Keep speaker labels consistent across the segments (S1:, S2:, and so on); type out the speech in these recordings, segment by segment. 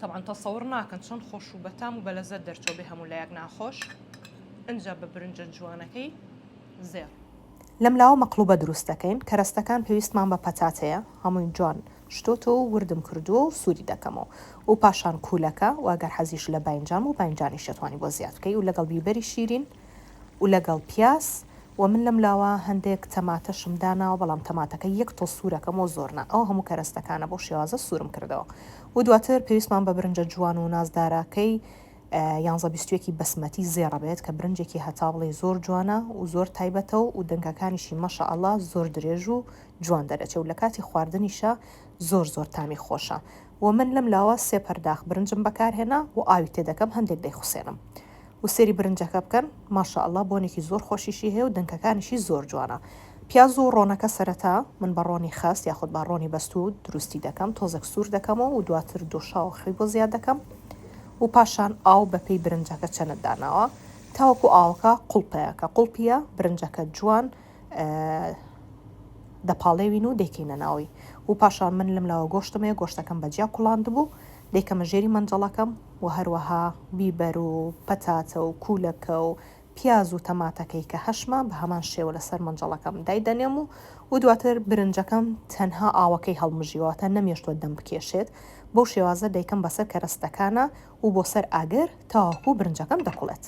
S1: تەبعەن تەسەور ناکەن چەند خۆش و بەتام و بەلەزەت دەرچوە بێ هەموو لایەک ناخۆش ئنجا بە برنجە جوانەکەی زێڕ. لەم لاوە
S2: مەقلوبە دروست دەکەین کەرەستەکان پێویستمان بە پەتاتەیە هەمووی جوان شتۆتەوە و وردم کردووە و سوری دەکەمەوە و پاشان کوولەکە و ئەگەر حەزیشت لە باینجان بوو باینجانیش دەتوانی بۆ زیاد بکەی و لەگەڵ بیبەری شیرین و لەگەڵ پیاز وە من لەم لاوە هەندێک تەماتەشم داناوە بەڵام تەماتەکە یەک تۆ سورەکەم وە زۆر نا ئەو هەموو کەرەستەکانە بەو شێوازە سورم کردەوە و دواتر پێویستمان بە برنجە جوان و نازداراکەی یانزە بیستویەکی بەسمەتی زێڕە بێت کە برنجێکی هەتا بڵێ زۆر جوانە و زۆر تایبەتە و و دەنگەکانیشی مەشە ئەڵا زۆر درێژ و جوان دەرەچێ و لە کاتی خواردنیشە زۆر زۆر تامی خۆشە و من لەم لاوە سێ پەرداخ برنجم بەکارهێنا و ئاوی تێدەکەم هەندێک دەیخوسێنم و سێری برنجەکە بکەن ماشاء اللە بۆنێکی زۆر خۆشیشی هەیە و دنکەکانیشی زۆر جوانە پیاز و ڕۆنەکە سەرەتا من بە ڕۆنی خەست یاخود با ڕۆنی بەستوو دروستی دەکەم تۆزێک سوور دەکەمەوە و دواتر دۆشاوە خەوی بۆ زیاد دەکەم و پاشان ئاو بە پێی برنجەکە چەنت داناوە تاوەکو ئاوەکە قوڵپەیە کە قوڵپیە برنجەکە جوان دەپاڵێوین و دەیکەینە ناوی و پاشان من لەم لاوە گۆشتمەیە گۆشتەکەم بە جیا کوڵاندبوو دەیکەمە ژێری مەنجەڵەکەم و هەروەها بیبەر و پەتاتە و کوولەکە و پیاز و تەماتەکەی کە هەشمە بە هەمان شێوە لەسەر مەنجەڵەکەم دایدەنێم و و دواتر برنجەکەم تەنها ئاوەکەی هەڵمژیوە واتە نەمێشتووە دەم بکێشێت بەو شێوازە دەیکەم بەسەر کەرەستەکانا و بۆ سەر ئاگر تاوەکو برنجەکەم دەکوڵێت.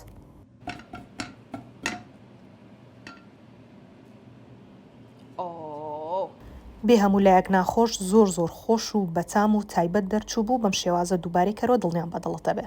S2: بێ هەموو لایەک ناخۆش زۆر زۆر خۆش و بەتام و تایبەت دەرچوو بوو بەم شێوازە دووبارەی کەرەوە دڵنیام بەدڵتەبێ.